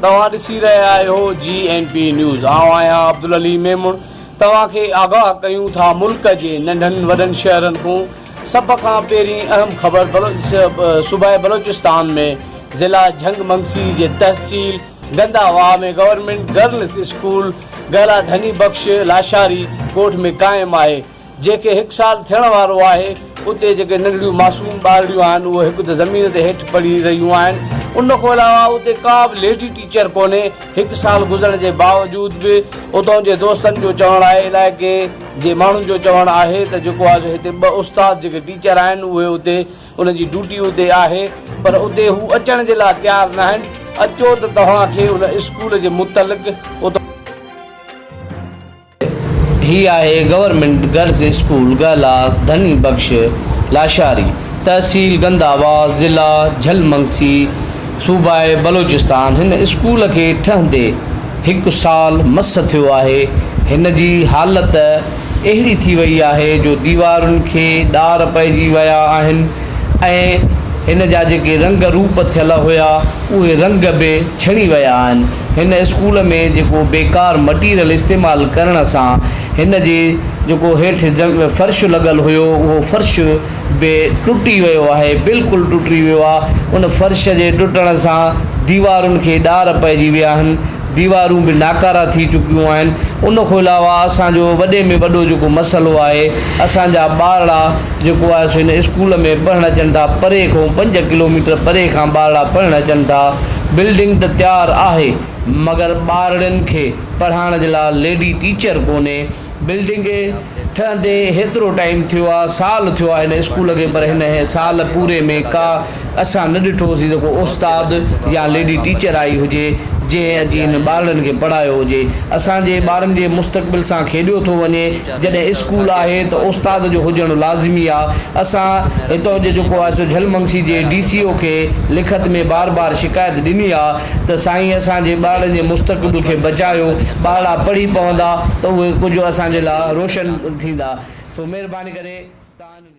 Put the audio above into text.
توهان ڏسي رهيا آهيو جي اين پي نيوز آئون آهيان عبدالعلي ميمڻ توهان کي آگاهه ڪيون ٿا ملڪ جي ننڍن وڏن شهرن کان سڀ کان پهرين اهم خبر صوبائي بلوچستان ۾ ضلع جهنگ منگسي جي تحصيل Ganda Wah ۾ government girls school گهرا گهني بخش لاشاري ڳوٺ ۾ قائم آهي، جنهن کي هڪ سال ٿيڻ وارو آهي، اتي جيڪي ننڍڙيون معصوم ٻارڙيون آهن اهي هڪ ته زمين تي هيٺ پڙهي رهيون آهن، ان کان علاوه اتي ڪا به ليڊي ٽيچر ڪونهي، هڪ سال گذرڻ جي باوجود به اتان جي دوستن جو چوڻ آهي علائقي جي ماڻهن جو چوڻ آهي ته جيڪو آهي سو هتي ٻه استاد جيڪي ٽيچر آهن اهي اتي انهن جي ڊيوٽي ادي آهي پر ادي هو اچڻ جي لاء تيار ناهن اچو ته توهان کي ان اسڪول جي متعلق اتو. هي آهي گورنمينٽ گرلز اسڪول گهلا ڌني بخش لاشاري تحصيل گنداوا ضلع جهل منگسي صوبه بلوچستان هن اسڪول کي ٺهندي هڪ سال مس ٿيو آهي هن جي حالت اهڙي ٿي وئي آهي جو ديوارن کي ڏار پئجي ويا آهن ۽ هن جا جيڪي رنگ روپ ٿيل هيا اهي رنگ به ڇڻي ويا آهن هن اسڪول ۾ جيڪو بيڪار مٽيريل استعمال ڪرڻ سان هن جي جيڪو هيٺ فرش لڳل هيو اهو فرش به ٽٽي ويو آهي بلڪل ٽٽي ويو آهي ان فرش جي ٽٽڻ سان ديوارن کي ڏار پئجي ويا آهن ديوارون به ناڪارا ٿي چڪيون آهن ان کان علاوه اسان جو وڏي ۾ وڏو جيڪو مسئلو آهي اسان جا ٻارڙا جيڪو آهي سو هن اسڪول ۾ پڙهڻ اچن ٿا پري کان پنج ڪلو ميٽر پري کان ٻارڙا پڙهڻ اچن ٿا بلڊنگ ته تيار آهي مگر ٻارڙين کي پڙهائڻ جي لاء ليڊي ٽيچر ڪونهي بلڊنگ کي ٺهندي هيترو ٽائيم ٿيو آ سال ٿيو آ هن اسڪول کي پر هن سال پوري ۾ ڪا اسان نه ڏٺو هوسين ته ڪو استاد يا ليڊي ٽيچر آئي هجي جنهن اچي هن ٻارڙن کي پڙهايو هجي اسان جي ٻارن جي مستقبل سان کيڏيو ٿو وڃي جڏهن اسڪول آهي ته استاد جو هجڻ لازمي آ اسان هتان جو جيڪو آهي سو جهلمنگسي جي ڊي سي او کي لکت ۾ بار بار شڪايت ڏني آ ته سائين اسان جي ٻارڙن جي مستقبل کي بچايو، ٻارڙا پڙهي پوندا ته اهي ڪجهه اسان جي لاء روشن ٿيندا سو مهرباني ڪري توهان انهن کي.